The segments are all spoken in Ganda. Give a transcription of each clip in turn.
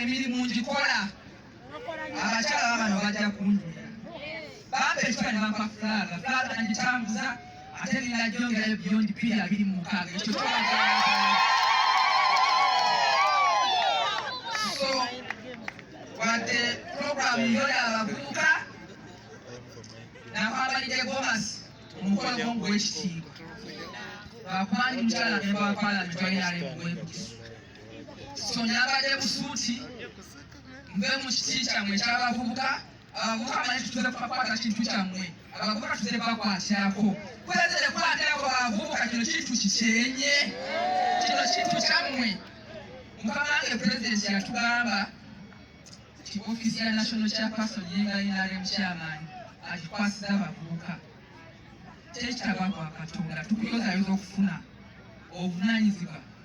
emirimu ngikola abakyala babano bajja kunjulira bampa ekiba ne bampa fulaaga fulaaga nagitambuza ate ninajongerayo byondi bbiri abiri mu mukaaga ekyo so wadde puroguramu yo yabavubuka nakwambalidde gomasi omukolo gwomu gwekitiibwa lwakuba ndi mukyala nemba wa palamenti wayinalemu gwekukisu so nabadde busuuti nve mu kiti kyammwe ekyabavubuka abavubuka manyi tutuze kukwata kintu kyammwe abavubuka tuze bakwatirako kwezere kwatirako bavubuka kino kintu kikyenye kino kintu kyammwe mukama wange pulezidenti yatugamba nti ofiisi ya national chairperson yenga nrm chairman agikwasiza abavubuka tekitaba kwa katonda tukuyozayoza okufuna obuvunanyizibwa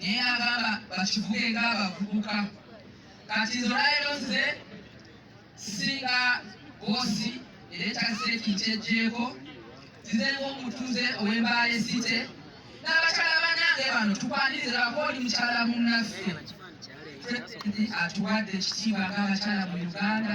naye nagamba bakivuge nga abavubuka kati nze olwalero nze singa bosi era ekyaseeki nkyejjeeko nzize ngaomutuze ow'embaale site n'abakyala banange bano tukwaniriza bako oli mukyala munnaffe atuwadde ekitiibwa ng'abakyala mu uganda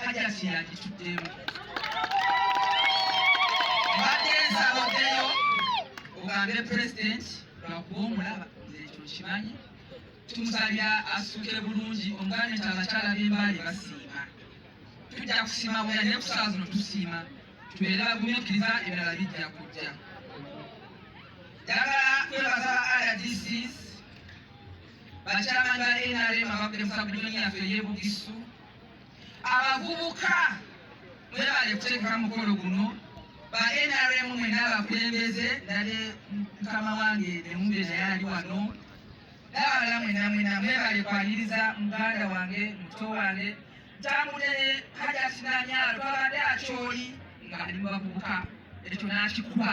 hajati yagituddemu mbadde nsaba oddeyo ogambe pulezidenti lwakuba omulaba nze ekyo nkimanyi tumusabira asuke bulungi omuganda nti abakyala b'embaale basiima tujja kusiima bwera naye ku saawa zino tusiima tubeere bagumiikiriza ebirala bijja kujja njagala kwebaza ba rdcs bakyamani ba nrm ababadde mu sabudoni yaffe ey'ebugisu abavubuka mwebale kuteekamu mukolo guno ba nrm mwena abakulembeze ndale mukama wange nemumbe naye ali wano n'abalala mwena mwena mwebale kwaniriza muganda wange muto wange ntambule hajati nanyalo twabadde akyoli nga ali mu bavubuka ekyo n'akikuba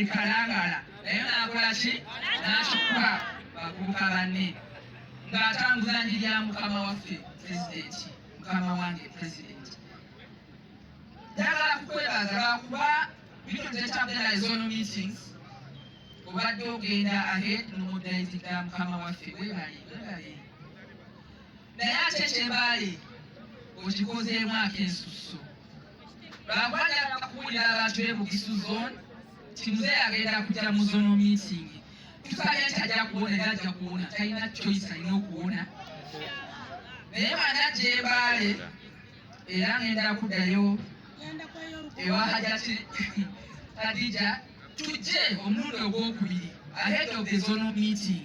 ekalangala naye nakola ki nakikuba bavubuka banne ng'atambuza njiri ya mukama waffe pulezidenti mukama wange pulezidenti njagala kukwebaza lwakuba bino tetabera ezono meetings obadde ogenda ahead nomudayitiga mukama waffe webale webale naye ate kyebaale okikozeemu akensusu Bwagwa njagala kubuulira abantu be Bugisu zone nti muzeeyi agenda kujja mu zono meeting. Tusabye nti ajja kuwona era ajja kuwona, talina choice, alina okuwona. Naye bw'ana ajja e Mbale era ngenda kuddayo ewa Hajati Khadija tujje omulundi ogwokubiri ahead of the zonal meeting.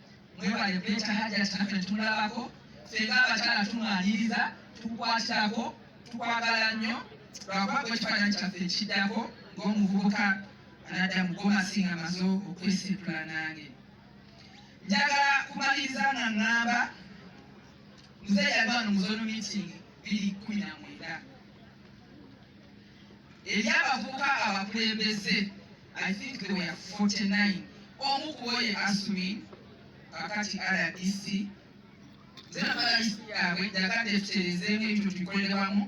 mwebale beta hajati nafe tumulabako fenga abakyala tumwaniriza tukwatirako tukwagala nnyo lwakuba gwe ekifaananyi kyaffe ekiddako ng'omuvubuka anadda mu gomasinga maze okwesitula nange njagala kumaliriza nga ŋŋamba muzeeyi yali wano mu zonu meeting biri kumi na mwenda eri abavubuka abakulembeze i think they were 49 omu kuboye asumi kakati rdc zerabalisi yabwe jagadde tuterezeemu ebyo tubikolerawamu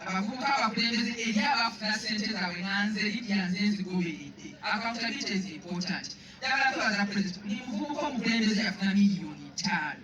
abavubuka abakulembeze eri abafuna sente zabwe nanze lidya nze nzigoberedde accountability is important dagala twebaza president ni muvubuka omukulembeze yafuna miliyoni ttaano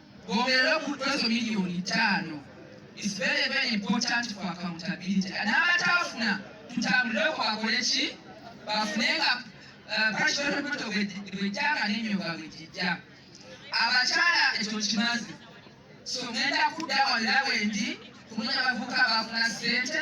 Goberera ku kwezo milioni tano. It's very very important for accountability. N'abataafuna tutambulireko bakole ki bafune nga uh, parishonalpoto bwejjanga n'enyoga bwejijja. Abakyala ekyo kimazi. So ngenda kudda wonna wendi kumanya abavubuka abafuna ssente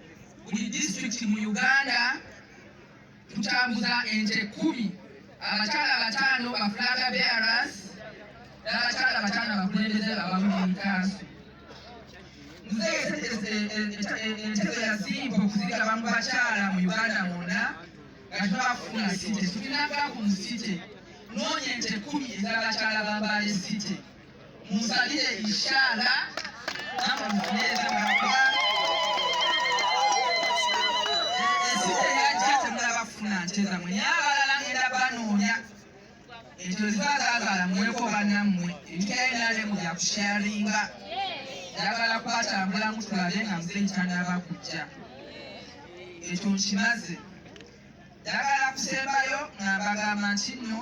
buli disitulikiti mu uganda tutambuza ente kumi abakyala bataano bafulaga bearas n'abakyala bataano abakulembeze abamukansi entego yazimba okuzigaba mu bakyala mu uganda mwonna nga tubafuna site tulinagako mu site noonya ente kumi ez'abakyala bambaale site Musalire inshallah namwe mufunyeeza mwakuba esite yajja temulabafuna nte zamwe naye abalala ngenda banoonya ekyo ziba zazaala mweko bannammwe ebikaenale mu bya kusharinga njagala kubatambulamu tulabe nga muze ntanaba kujja ekyo nkimaze njagala kusembayo nga mbagamba nti nno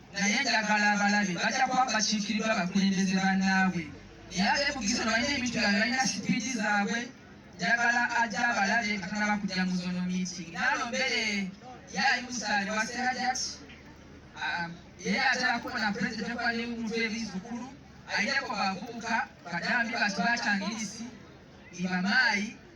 naye njagala abalabe bajja kuba bakiikirirwa abakulembeze bannaabwe naye abeebugize balina ebintu byabwe balina sipiidi zaabwe njagala ajja abalabe nga tanaba kujja mu zono meeting naalo mbere yaali musaali wa serajat um, ye atera kubona pulezidenti okuba n'omuntu ebizukulu ayineko bavubuka badambi batu batangirisi ibamaayi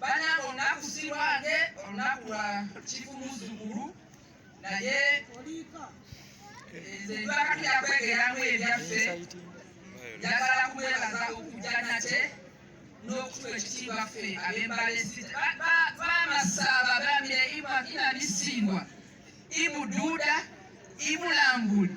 banange olunaku si lwange olunaku lwa kifu muzzukulu naye nze lwakati yakwegeramu ebyaffe njagala kumwebaza okujja nate n'okutuwa ekitiibwa ffe abembalebamasaba bamire imakina misindwa ibuduuda ibulambuli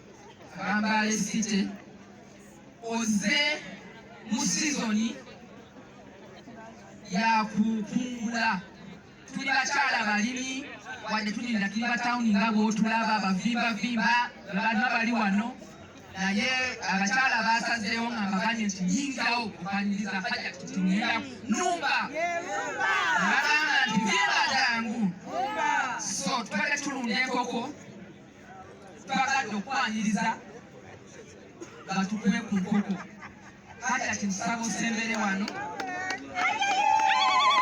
Bambale City oze mu sizoni yakukungula tuli bakyala balimi wadde tulinda tuli batawuni nga bwotulaba bavimbavimba abantu abali wano naye abakyala basazeewo nga mbaganye nti yingawo okwaniriza haja tutinera numba bagamba nti vimba jangu so tubadde tulunda enkoko twagadde okwaniriza batukume ku nkoko hajati musaba osembere wano